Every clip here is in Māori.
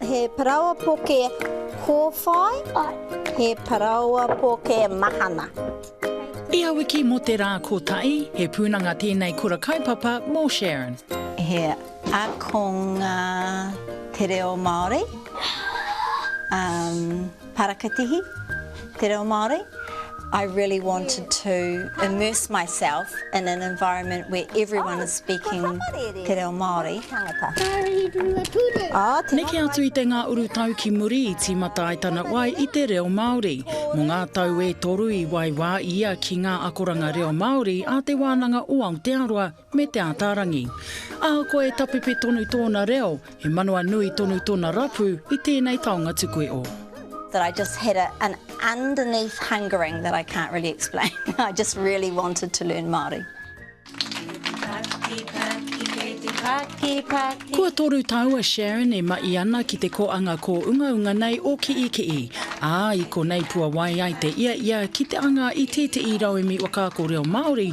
He paraoa poke kōwhai. He paraoa poke mahana. Ia wiki mō te rā kotahi, he pūnanga tēnei kura kaupapa mō Sharon. He ākonga te reo Māori. Parakatihi, Te Reo Māori, I really wanted to immerse myself in an environment where everyone is speaking Te Reo Māori. Neke atu i te ngā urutau ki muri i tīmata ai tana wai i te reo Māori. Mō ngā tau e toru i waiwā ia ki ngā akoranga reo Māori a Te Wānanga o Aotearoa, me Te Ātaarangi. Ahakoa e tapepe tonu tōna reo, he manawa nui tonu tona rapu i tēnei taonga tukue o. that I just had a an underneath hungering that I can't really explain. I just really wanted to learn Māori. Kua toru tau a Sharon e maʻi ana ki te koanga kōungaunga nei o Kiʻikiʻi, ā, i konei puawai ai te ia ia ki te anga i tēteʻi rauemi wakaako reo Māori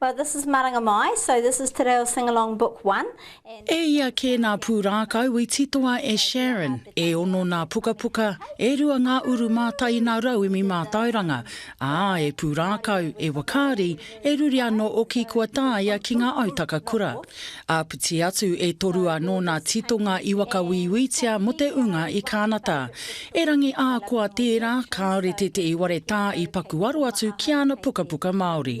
Well this is Maranga Mai, so this is Te Reo Singalong Book One and. E ia kē nā pūrākau i titoa e Sharon, e ono nā pukapuka, e rua ngā uru mātainā rauemi mātauranga, ā, e pūrākau, e wakaari, e ruri anō oki kua tāia ki ngā autaka kura. Āpiti atu e toru anō nā titonga i wakawīwītia mō te ūnga i Kānata. Erangi ā koa tērā, kāore tētehi ware tā i pakuaro atu ki āna pukapuka Māori.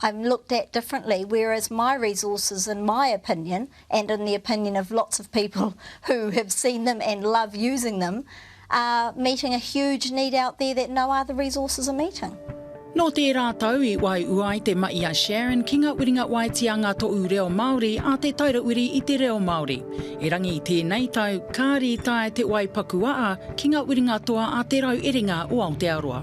I'm looked at differently, whereas my resources in my opinion and in the opinion of lots of people who have seen them and love using them are meeting a huge need out there that no other resources are meeting. Nō tērā tau i waiua ai te maʻi a Sharon ki ngā uringa waetianga Toʻu Reo Māori a Te Taira Uri i te Reo Māori. Erangi i tēnei tau, kāri i tae te wai pakuaa ki ngā uringa toa a Te Rauerenga o Aotearoa.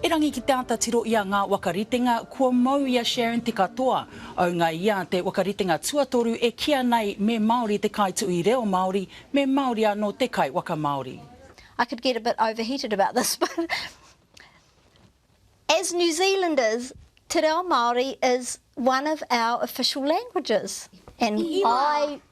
Erangi ki te ata tiro ia nga wakaritenga kua mau ia Sharon te katoa. Aunga ia te wakaritenga tuatoru e kia nei me Maori te kaituui reo Maori, me Maori ano te kai waka Maori. I could get a bit overheated about this but as New Zealanders te reo Maori is one of our official languages and I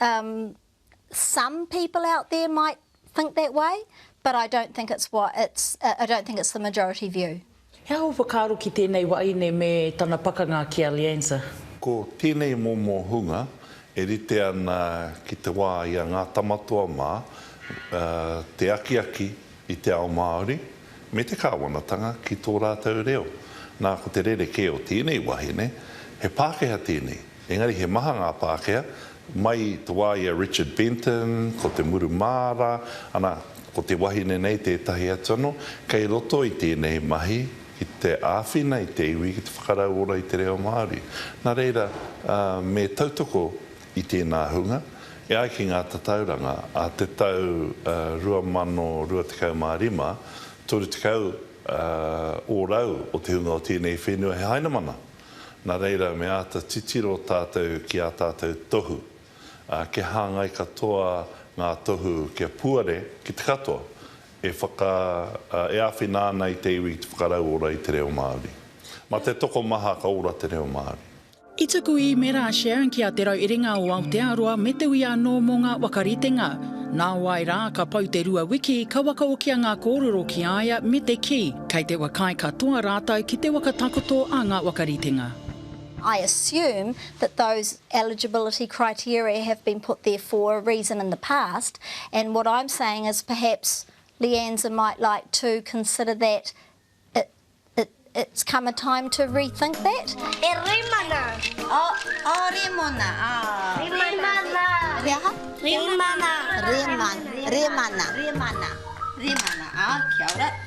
Umm, some people out there might think that way, but I don't think it's what it's, I don't think it's the majority view. He aha ō whakaaro ki tēnei wahine me tana pakanga ki a Lianza? Ko tēnei momo hunga e rite ana ki te wā i a Ngā Tamatoa mā, te akiaki i te ao Māori me te kāwanatanga ki tō rātou reo. Nā, ko te rerekē o tēnei wahine, he Pākehā tēnei, Engari he maha ngā Pākehā, mai i te wā i a Richard Benton, ko te muru māra, ana, ko te wahine nei tētahi atu anō, kei roto i tēnei mahi ki te āwhina i te iwi ki te whakarauora i te reo Māori. Nā reira, me tautoko i tēnā hunga, e ai ki ngā tatauranga a te tau 2025, 30 ōrau o te hunga o tēnei whenua he Hainamana. Nā reira, me āta titiro tātou ki ā tātou tohu, ā, kia hāngai katoa ngā tohu kia puare ki te katoa e whaka, e āwhina ana i te iwi ki te whakarauora i te reo Māori. Mā te tokomaha ka ora te reo Māori. I tuku īmera a Sharon ki a Te Rauiringa o Aotearoa me te uia anō mō ngā wakaritenga. Nāwai rā, ka pau te rua wiki, ka wakaokia ngā kōrero ki a ia me te kī, Kei te wa kai katoa rātou ki te waka takoto a ngā wakaritenga. I assume that those eligibility criteria have been put there for a reason in the past and what I'm saying is perhaps Leanza might like to consider that it it it's come a time to rethink that. E Remana! Oh, oh, Remona, ah. Remana! He aha? Remana! Remana! Remana! Remana! Remana! Ah, kia ora.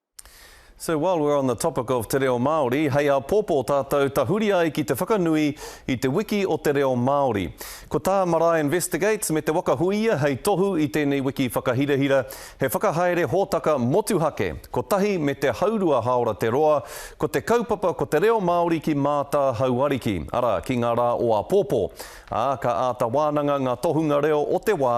So while we're on the topic of te reo Māori, hei āpōpō tātou tahuri ai ki te whakanui i te wiki o te reo Māori. Ko tā Marae Investigates me Te Waka Huia hei tohu i tēnei wiki whakahirahira, he whakahaere hōtaka motuhake, kotahi me te haurua Haora te roa, ko te kaupapa ko te reo Māori ki Mātā Hauariki, arā, ki ngā rā o āpōpō. Ā, ka āta wānanga ngā tohunga reo o te wā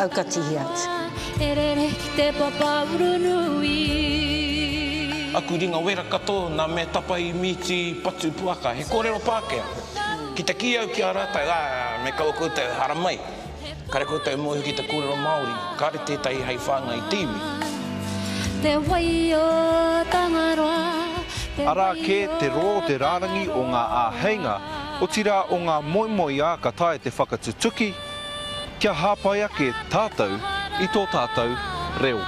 Aukatihi atu. Aku ringa wera katoa na mea tapa i mīti patu puaka he korero Pākehā. Ki te kī au ki a rātou, ā, me kaua koutou haramai, kare koutou mohi ki te korero Māori, kare tētahi hei whāngai i te iwi. Arā kē te rō te rārangi o ngā āheinga otirā o ngā moemoeā ka taea te whakatutuki kia hāpai ake tātou i tō tātou reo.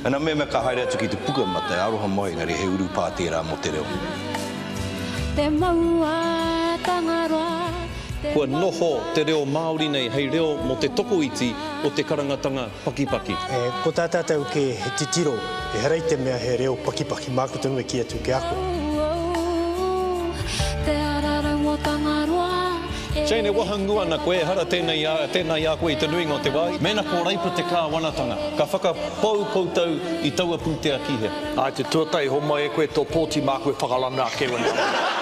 Ana mema ka haere atu ki te puka ma te aroha moe engari he urupā tērā mo te reo. Kua noho te reo Māori nei hei reo mo te tokoiti o te karangatanga. pakipaki. Ko tā tātou kē he titiro, ehara i te mea he reo pakipaki, māku tonu e kī atu ki a koe. Jane, e wahangū ana koe, ehara tēnei, tēnā i a koe i te nuinga o te wā. Mēnā ko Reipa te kāwanatanga, ka whakapau koutou i taua pūtea ki hea? I te tuatahi, homai e koe tō pōti māku e whakarana ake wena.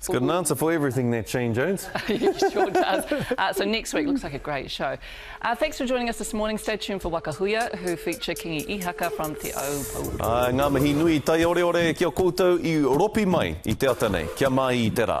It's got an answer for everything that Shane Jones. it sure does. Uh, so next week looks like a great show. Uh, thanks for joining us this morning. Stay tuned for Waka Huia, who feature Kingi Ihaka from Te Aupou. Uh, ngā mihi nui, tai ore ore ki a koutou i ropi mai i te ata nei. Kia mai i te rā.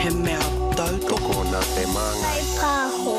He mea tautoko nā te māngai. Kai pāho.